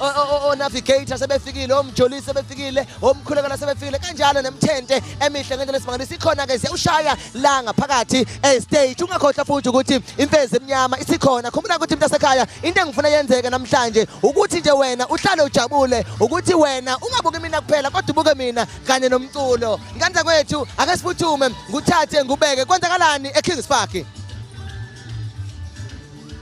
onavigator sebefikile omjolisi sebefikile omkhulekela sebefikile kanjalo nemthente emihle ngendlela esimangalisa ikhona-ke ziyawushaya la ngaphakathi estage ungakhohlwa futhi ukuthi imfezi emnyama isikhona khumbula ukuthi mntu asekhaya into engifuna yenzeke namhlanje ukuthi nje wena uhlale ujabule ukuthi wena ungabuki mina kuphela kodwa ubuke mina kanye nomculo nkanza kwethu ake siphuthume nguthathe ngubeke kwenzakalani ekings park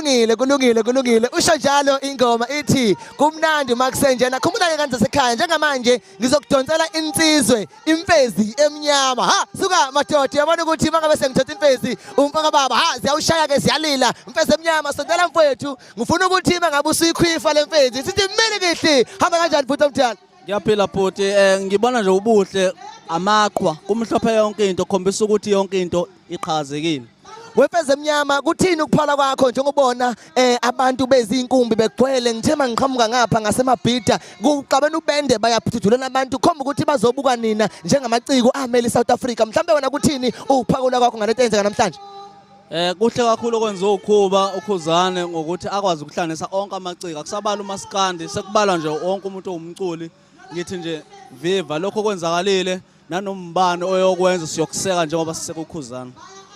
kulungile kulungile kulungile usho njalo ingoma ithi kumnandi uma kusenjena khumbula-ke kanti sekhaya njengamanje ngizokudonsela insizwe imfezi emnyama ha suka madoda uyabona ukuthi uma ngabe sengithatha imfezi umfaka baba ha ziyawushaya-ke ziyalila mfezi emnyama sondela mfowethu ngifuna ukuthi uma ngabe usuyikhwifa le mfenzi sithi mele kihle hamba kanjani bhuti omdala ngiyaphila bhuti um ngibona nje ubuhle amaqhwa kumhlophe yonke into khombisa ukuthi yonke into iqhakazekile wefeze emnyama kuthini ukuphala kwakho njengobona eh abantu bezinkumbi begcwele ngithe mangiqhamuka ngapha ngasemabhida kuqabana ubende bayaphuthulela abantu khomba ukuthi bazobuka nina njengamaciko ameli South Africa mhlawumbe wena kuthini ukuphakula kwakho ngalento eyenzeka namhlanje Eh kuhle kakhulu okwenziwa ukhuba ukhuzane ngokuthi akwazi ukuhlanganisa onke amaciko akusabala umaskandi sekubalwa nje wonke umuntu owumculi ngithi nje viva lokho kwenzakalile nanombani oyokwenza siyokuseka njengoba sisekukhuzana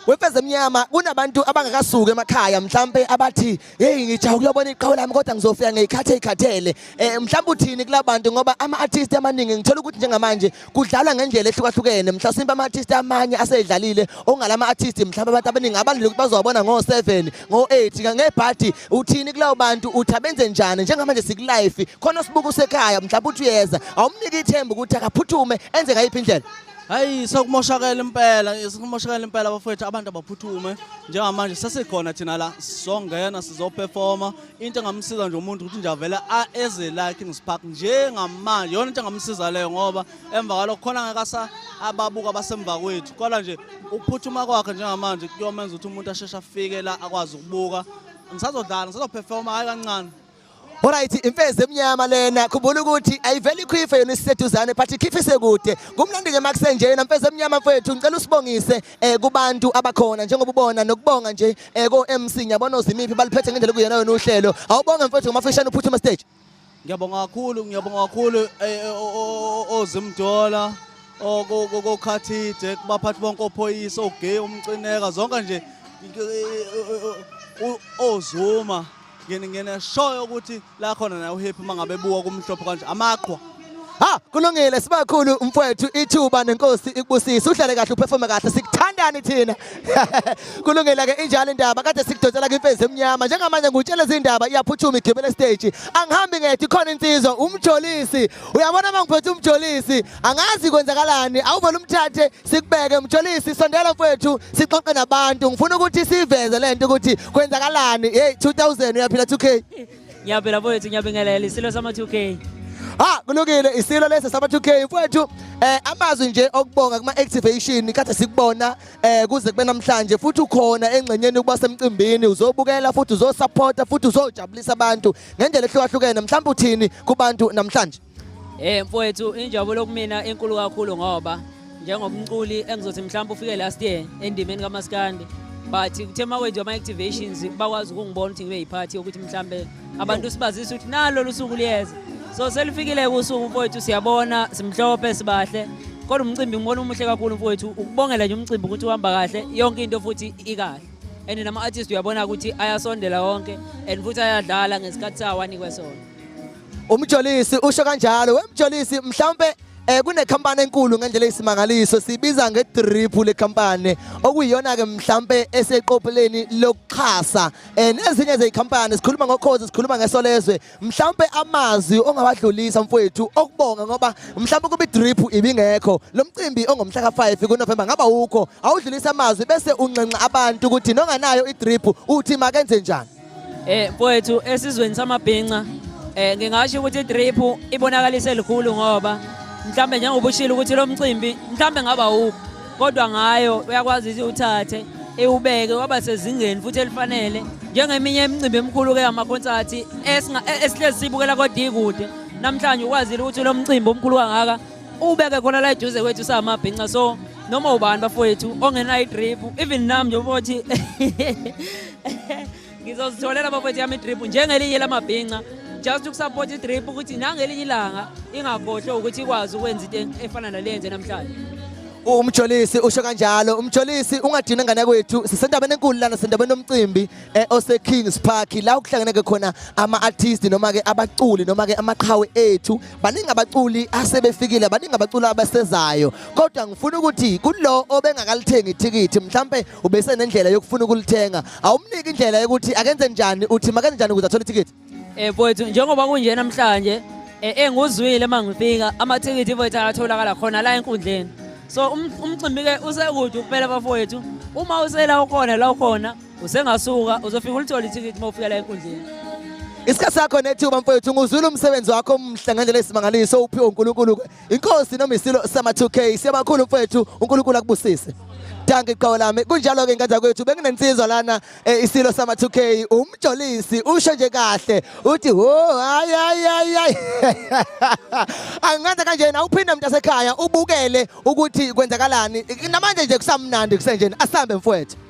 Wemfezemnyama kunabantu abangakasuki emakhaya mhlambe abathi hey ngijaha ukuyobona iqhawe lami kodwa ngizofika ngiyikhathe ikhathele eh mhlawumbe uthini kulabantu ngoba ama artists amaningi ngithola ukuthi njengamanje kudlalwa ngendlela ehlukahlukene mhlasimbe ama artists amanye asedlalile ongalama artists mhlawumbe abantu abaningi abandile ukuthi bazobona ngo 7 ngo 8 ngebhadi uthini kulawo bantu uthi abenze njani njengamanje siku life khona sibuka usekhaya mhlawumbe uthi uyeza awumnike ithemba ukuthi akaphuthume enze ngayiphi indlela hayi sokumoshakela impela sokumoshakela impela abafowethu abantu abaphuthume njengamanje sesikhona thina la sizongena sizoperforma into engamsiza nje umuntu ukuthi nje avele eze la Kings Park njengamanje yona into engamsiza leyo ngoba emva kwalokho khona ngeke asa ababuka basemva kwethu kodwa nje ukuphuthuma kwakhe njengamanje kuyomenza ukuthi umuntu asheshe afike la akwazi ukubuka ngisazodlala ngisazoperforma hayi kancane Alright imfezi emnyama lena khumbula ukuthi ayiveli ikhife yona isiseduzane but ikhifise kude kumnandi ke makusenje yena mfezi emnyama mfethu ngicela usibongise eh kubantu abakhona njengoba ubona nokubonga nje eh ko MC ngiyabona uzimiphi baliphethe ngendlela kuyena yona uhlelo awubonge mfethu ngomafishane uphuthuma stage ngiyabonga kakhulu ngiyabonga kakhulu eh, eh, ozimdola okokhathide kubaphathi bonke ophoyisa ogay umcineka zonke nje eh, ozuma ngene ngene shoyo ukuthi la khona naye uhappy mangabe buka kumhlophe kanje amaqhwa Ha kulungile sibakhulu mfwethu ithuba nenkosi ikubusise uhlale kahle uperforme kahle sikuthandani thina kulungile ke injalo indaba kade sikudonsela kwimfezi emnyama njengamanje ngutshela izindaba iyaphuthuma igibele stage angihambi ngethi khona insizwa umjolisi uyabona mangiphethe umjolisi angazi kwenzakalani awuvela umthathe sikubeke mjolisi sondela mfowethu sixoxe nabantu ngifuna ukuthi siveze le nto ukuthi kwenzakalani hey 2000 uyaphila 2k ngiyaphila mfowethu ngiyabingelela isilo sama-2k ha kulungile isilo lesi sama-2k mfowethu eh amazwi nje okubonga kuma activation kade sikubona eh kuze kube namhlanje futhi ukhona engxenyeni ukuba semcimbini uzobukela futhi uzosupporta futhi uzojabulisa abantu ngendlela ehlukahlukene mhlawumbe uthini kubantu namhlanje Eh mfowethu injabulo kumina enkulu kakhulu ngoba njengomculi engizothi mhlawumbe ufike last year endimeni kamaskandi but kuthe uma wenziwa ama-activations bakwazi ukungibona ukuthi ngibe yiphathi yokuthi mhlawumbe abantu sibazise ukuthi nalo lusuku liyeza so selifikile-ke usuku mfowethu siyabona simhlophe sibahle kodwa umcimbi ngibona umuhle kakhulu mfowethu ukubongela nje umcimbi ukuthi uhamba kahle yonke into futhi ikahle and nama-artist uyabona ukuthi ayasondela wonke and futhi ayadlala ngesikhathi sawanikwe sona Umjolisi usho kanjalo wemjolisi mhlawumbe eh kunekhampani enkulu ngendlela isimangaliso sibiza ngedrip le company okuyiyona ke mhlambe eseqopheleni lokuxhasa eh nezinye zezicompany sikhuluma ngokhozi sikhuluma ngesolezwe mhlambe amazwi ongawadlulisa mfowethu okubonga ngoba mhlambe kuba idrip ibingekho lo mcimbi ongomhla ka5 kuNovember ngaba ukho awudlulisa amazwi bese unxenxa abantu ukuthi nonganayo idrip uthi makenze njani Eh mfowethu esizweni samabhinca eh ngingasho ukuthi i-drip ibonakalise likhulu ngoba mhlambe njengoba ushilo ukuthi lo mcimbi mhlambe ngaba wuphi kodwa ngayo uyakwazi ukuthi uthathe ewubeke waba sezingeni futhi elifanele njengeminye imicimbi emkhulu ke amakhonsathi e, esihlezi sibukela kodikude namhlanje ukwazile ukuthi lo mcimbi omkhulu kangaka ubeke khona la eduze kwethu samabhinca so noma ubani bafowethu ongenayo idrip even nami njengoba uthi ngizozitholela bafethu yami idrip njengelinye lamabhinca just ukusapota idrip ukuthi nangelinye ilanga ingakhohlwe ukuthi ikwazi ukwenza into efana nale yenze namhlanje umjolisi usho kanjalo umjolisi ungadini ngane kwethu sisendaweni enkulu lana sendaweni omcimbi eh, ose Kings Park la ukuhlangene ke khona ama artist noma ke abaculi noma ke amaqhawe ethu baningi abaculi asebefikile baningi abaculi abasezayo kodwa ngifuna ukuthi kulo obengakalithengi ithikithi mhlambe ubesenendlela yokufuna ukulithenga awumniki indlela yokuthi akenze njani uthi makenze njani ukuze athole ithikithi eh mfowethu njengoba kunje namhlanje eh, enguzwile uma ngifika amathikithi mfowethu ayatholakala khona la enkundleni so um, umcimbi-ke usekude ukuphela bafowethu uma usela ukhona la ukhona usengasuka uzofika ulithole ithikithi uma ufika la enkundleni isikhathi sakho nethuba mfowethu nguzwile umsebenzi wakho omhle ngendlela esimangaliso uphiwe unkulunkulu-ke Inkosi noma isilo sama 2K siyabakhulu mfethu uNkulunkulu akubusise. Danke iqhawe lami. Kunjalo ke ngane kwethu benginensizwa lana eh, isilo sama 2K umjolisi usho nje kahle uthi ho hayi hayi hayi. Angenza kanje na uphinde umuntu asekhaya ubukele ukuthi kwenzakalani. Namanje nje kusamnandi kusenjeni asambe mfowethu.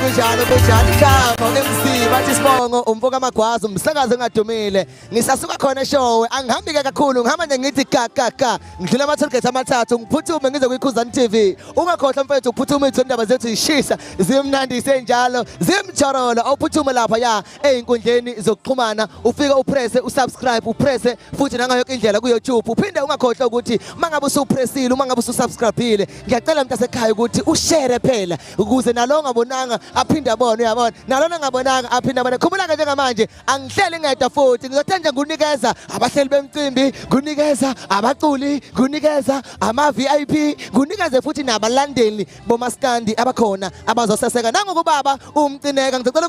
kunjalo kunjalo ikhama uMC bathi sibongo umfoka amagwazi umsakazi engadumile ngisasuka khona eshowe angihambi ke kakhulu ngihamba nje ngithi ka ka ka ngidlula ama-tollgate amathathu ngiphuthume ngize kwikhuzani t v ungakhohlwa mfethu ukuphuthume ithu indaba zethu zishisa zimnandi isenjalo zimjorolo awuphuthume lapha ya ey'nkundleni zokuxhumana ufike uprese usubscribe uprese futhi nangayo yoke indlela kuyoutube uphinde ungakhohlwa ukuthi uma ngabe usupresile uma ngabe ususubscribile ngiyacela mntu asekhaya ukuthi ushere phela ukuze nalo ongabonanga aphinde abone uyabona nalona angabonanga aphinde abone khumbula-ke njengamanje angihleli ngedwa futhi ngizothe nje ngunikeza abahleli bemcimbi ngunikeza abaculi ngunikeza ama-vip ngunikeze futhi nabalandeli bomaskandi abakhona abazoseseka nangokubaba umcineka ngizocela